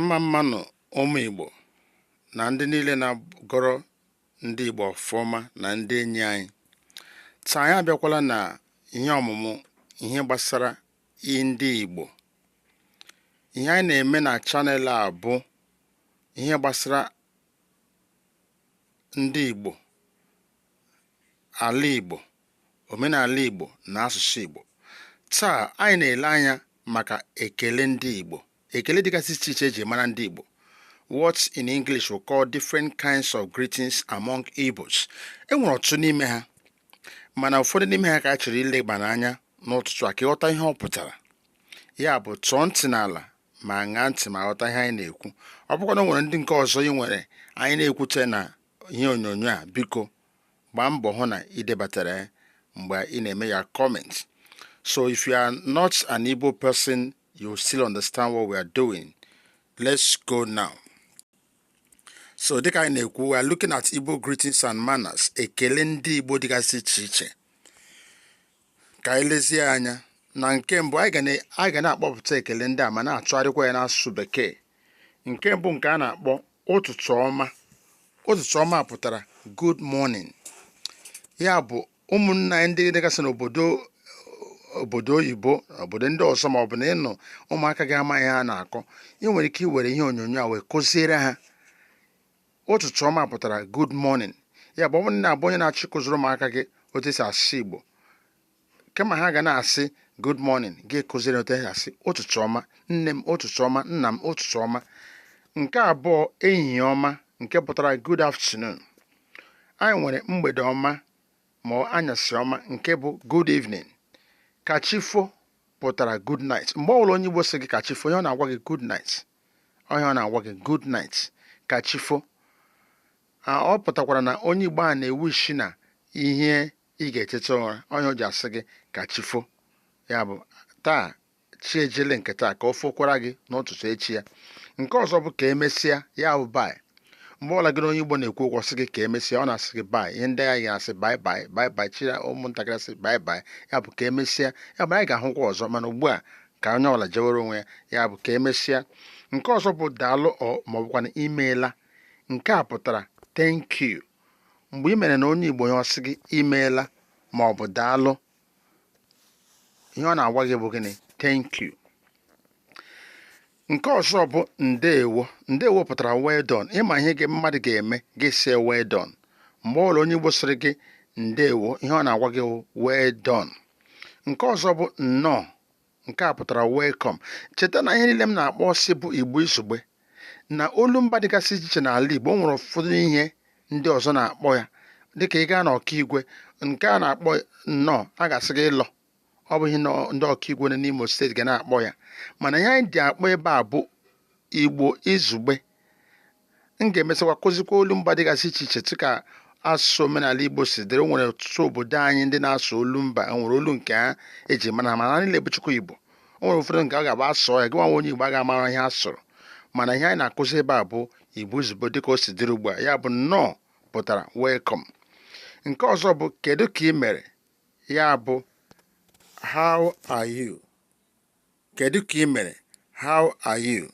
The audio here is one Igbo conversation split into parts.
mma mma nụ ụmụ Igbo na ndị niile na-agọrọ ndị Igbo ọfụma na ndị enyi anyị taa anyị abịakwala na ihe ọmụmụ ihe gbasara ndị Igbo ihe anyị na-eme na channel a bụ ihe gbasara ndị Igbo ala Igbo omenala Igbo na asụsụ Igbo taa anyị na-ele anya maka ekele ndị Igbo ekele dịgasị iche iche eji mara ndị Igbo what in English we call different kinds of greetings among Igbos enwere ọtụtụ n'ime ha mana ụfọdụ n'ime ha ka a chọrọ ileba n'anya n'ụtụtụ a ka ị ghọta ihe ọ pụtara ya bụ tụọ ntị n'ala ma ṅaa ntị ma ghọta ihe anyị na-ekwu ọ bụkwa na o nwere ndị nke ọzọ ị nwere anyị na-ekwute na ihe onyonyo a biko gbaa mbọ hụ na ị debatara ya mgbe ị na-eme your comment so if you are not an Igbo person you still understand what we are doing let's go now so dịka anyị na-ekwu we are looking at Igbo greetings and manners ekele ndị Igbo dịgasị iche iche ka anyị lezie anya na nke mbụ anyị ga na-akpọpụta ekele ndị a ma na-atụgharịkwa ya n'asụsụ bekee nke mbụ nke a na-akpọ ụtụtụ ọma ụtụtụ ọma pụtara good morning ya bụ ụmụnna anyị ndị dịgasị n'obodo oyibo obodo ndị ọzọ ma ọ bụ na ị nọ ụmụaka gị amaghị ihe a na-akọ ị nwere ike iwere ihe onyonyo a wee kụziere ha ụtụtụ ọma pụtara good morning ya bụ ọ bụrụ na ị bụ onye na-achọ ịkụziri ụmụaka gị otu esi asụ Igbo kama ha ga na-asị good morning gị kụziere otu esi asị ụtụtụ ọma nne m ụtụtụ ọma nna m ụtụtụ ọma nke abụọ ehihie ọma nke pụtara good afternoon anyị nwere mgbede ọma ma anyasị ọma nke bụ good evening kachifo pụtara good night mgbe ọbụla onye Igbo sị gị kachifo ihe ọ na-agwa gị good night ihe ọ na-agwa gị good night ka chifo ọ pụtakwara na onye Igbo a na-ewish na ihe ị ga-eteta ụra ọ ya o ji asị gị ka chifo ya bụ taa chi ejiele nke taa ka o fokwara gị n'ụtụtụ echi ya nke ọzọ bụ ka emesịa ya bụ bye mgbe ọbụla gị na onye Igbo na-ekwu okwu ọ sị gị ka emesịa ọ na-asị gị bye ihe ndị a ga-asị bye bye bye bye children ụmụntakịrị asị bye bye ya bụ ka emesịa ya bụ anyị ga-ahụkwa ọzọ mana ugbu a ka onye ọbụla jewere onwe ya ya bụ ka emesịa nke ọzọ bụ daalụ ọ ma ọ bụkwanụ imeela nke a pụtara thank you mgbe ị mere na onye Igbo ihe ọ sị gị imeela ma ọ bụ daalụ ihe ọ na-agwa gị bụ gịnị thank you nke ọzọ bụ ndeewo ndeewo pụtara well done ị ma ihe gị mmadụ ga-eme gị sị well done mgbe ọbụla onye Igbo sịrị gị ndeewo ihe ọ na-agwa gị well done nke ọzọ bụ nnọọ nke a pụtara welcome cheta na ihe niile m na-akpọsị bụ igbo izugbe na olu mba dịgasị iche iche n'ala igbo nwere ụfọdụ ihe ndị ọzọ na-akpọ ya dịka ị gaa na ọkaigwe nke a na-akpọ nnọọ a ga-asị gị ịlọ ọ bụ ihe ndị ọkaigwe nọ n'imo steeti ga na-akpọ ya mana ihe anyị ji akpọ ebe a bụ igbo izugbe m ga-emesịkwa kụzikwa olu mba dịgasị iche iche dịka asụsụ omenala Igbo si dịrị o nwere ọtụtụ obodo anyị ndị na-asụ olu mba e nwere olu nke ha eji mara ha mana niile bụchukwa Igbo o nwere ụfọdụ nke ọ ga-abụ a sụọ ya gị nwa onye Igbo a ga-amara ihe a sụrụ mana ihe anyị na-akụzi ebe a bụ Igbo izugbe dịka o si dịrị ugbu a ya bụ nnọọ pụtara welcome nke ọzọ bụ kedu ka ị mere ya bụ how are you Kedu ka ị mere? How are you?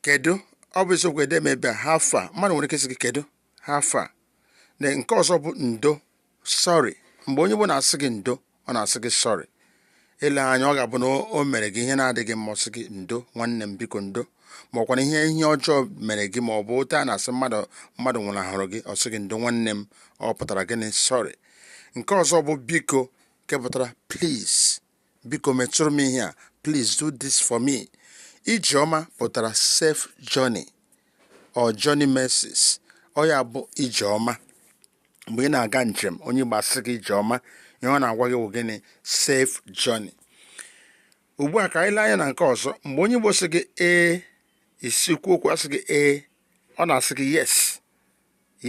Kedu ọ bụ isiokwu edeme ebe a how far mmadụ nwere ike sị gị kedu how far na nke ọzọ bụ ndo sorry mgbe onye Igbo na-asị gị ndo ọ na-asị gị sorry ele anya ọ ga-abụ na o- o mere gị ihe na-adịghị mma ọ sị gị ndo nwanne m biko ndo ma ọkwa na ihe ihe ọjọọ mere gị ma ọ bụ otu a na-asị mmadụ mmadụ nwụnahụrụ gị ọ sị gị ndo nwanne m ọ pụtara gịnị sorry nke ọzọ bụ biko nke pụtara please biko metụrụ m ihe a please do this for me ijeọma pụtara safe journey or journey mercies ọ ya bụ ijeọma mgbe ị na-aga njem onye Igbo asị gị ijeọma ihe ọ na-agwa gị wụ gịnị safe journey ugbu a ka anyị lee anya na nke ọzọ mgbe onye Igbo sị gị ee isi kwuo okwu asị gị ee ọ na-asị gị yes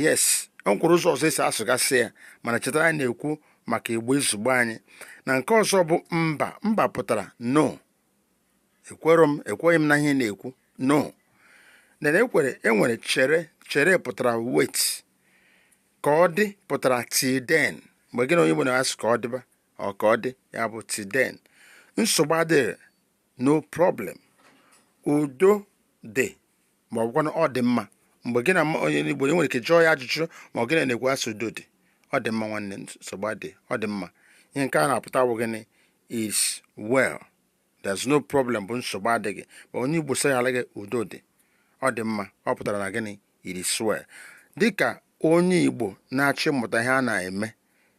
yes o nwekwuru ụzọ ọzọ esi asụgasị ya mana cheta na anyị na-ekwu maka igbo izugbe anyị na nke ọzọ bụ mba mba pụtara no ekwere m ekweghị m na ihe ị na-ekwu no na ekwere enwere chere chere pụtara wait ka ọ dị pụtara till then mgbe gị na onye Igbo na-asị ka ọ dịba ọ ka ọ dị ya bụ till then nsogbu adịghị no problem udo dị ma ọ bụkwanụ ọ dị mma mgbe gị na onye Igbo e nwere ike jụọ ya ajụjụ ma ọ gị na ya na-ekwu a sị udo dị ọ dị mma nwanne nsogbu adị ọ dị mma ihe nke a na-apụta bụ gịnị is well there's no problem bụ nsogbu adịghị ma onye Igbo sị gị udo dị ọ dị mma ọ pụtara na gịnị it is well dịka onye Igbo na-achọ ịmụta ihe a na-eme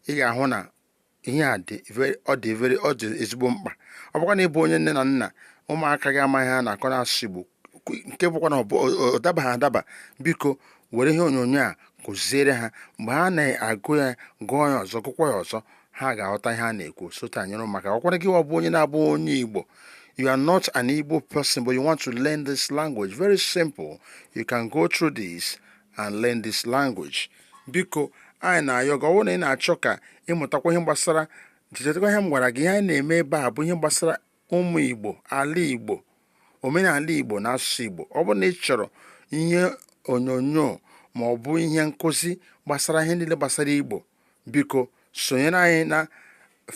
ị ga-ahụ na ihe a dị very- ọ dị very ọ dị ezigbo mkpa ọ bụkwa na ị bụ onye nne na nna ụmụaka gị amaghị ihe a na-akọ n'asụsụ Igbo kwe- nke bụkwa na ọ bụ- ọ- ọ dabaghị adaba biko were ihe onyonyo a kụziere ha mgbe ha na-agụ ya gụọ ya ọzọ gụkwa ya ọzọ ha ga-aghọta ihe a na-ekwu sote anyere maka ọkwara gị ọ bụ onye na-abụghị onye Igbo you are not an Igbo person but you want to learn this language very simple you can go through this and learn this language biko anyị na-ayọ gị ọ bụrụ na ị na-achọ ka ị mụtakwa ihe gbasara chetakwa ihe m gwara gị ihe anyị na-eme ebe a bụ ihe gbasara ụmụ Igbo ala Igbo omenala Igbo na asụsụ Igbo ọ bụrụ na ị chọrọ ihe onyonyo ma ọ bụ ihe nkụzi gbasara ihe niile gbasara Igbo biko sonyere anyị na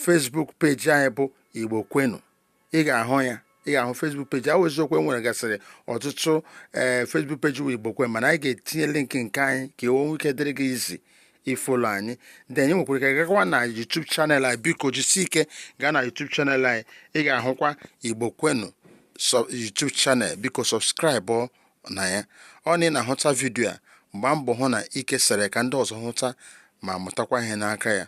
Facebook page anyị bụ Igbo Kwenu ị ga-ahụ ya ị ga-ahụ Facebook page ahụ eziokwu e nwere gasịrị ọtụtụ Facebook page wụ Igbo Kwenu mana anyị ga-etinye link nke anyị ka o nwee ike dịrị gị easy ifolo anyị then ị nwekwara ike gakwa na YouTube channel anyị biko jisi ike gaa na YouTube channel anyị ị ga-ahụkwa Igbo Kwenu YouTube channel biko subscribe na ya ọ na ị na-ahụta video a gbaa mbọ hụ na ị kesara ka ndị ọzọ hụta ma mụtakwa ihe n'aka ya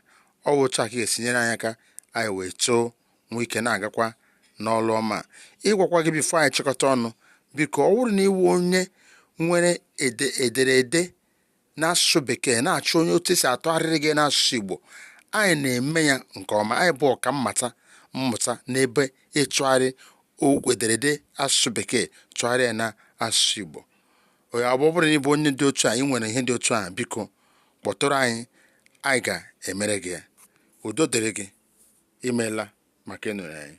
ọ bụ otu a ka ị ga-esi nyere anyị aka anyị wee too nwee ike na-agakwa n'ọlụ ọma ịgwakwa gị before anyị chịkọta ọnụ biko ọ bụrụ na ị wụ onye nwere ederede n'asụsụ bekee na-achọ onye otu esi atụgharịrị gị n'asụsụ igbo anyị na-eme ya nke ọma anyị bụ ọka mmata mmụta n'ebe ịtụgharị okwu ederede asụsụ bekee tụgharịa na asụsụ igbo onye ọ bụrụ na ị bụ onye dị otu a ị nwere ihe dị otu a biko kpọtụrụ anyị anyị ga-emere gị ya udo dịrị gị imeela maka ịnọrọ anyị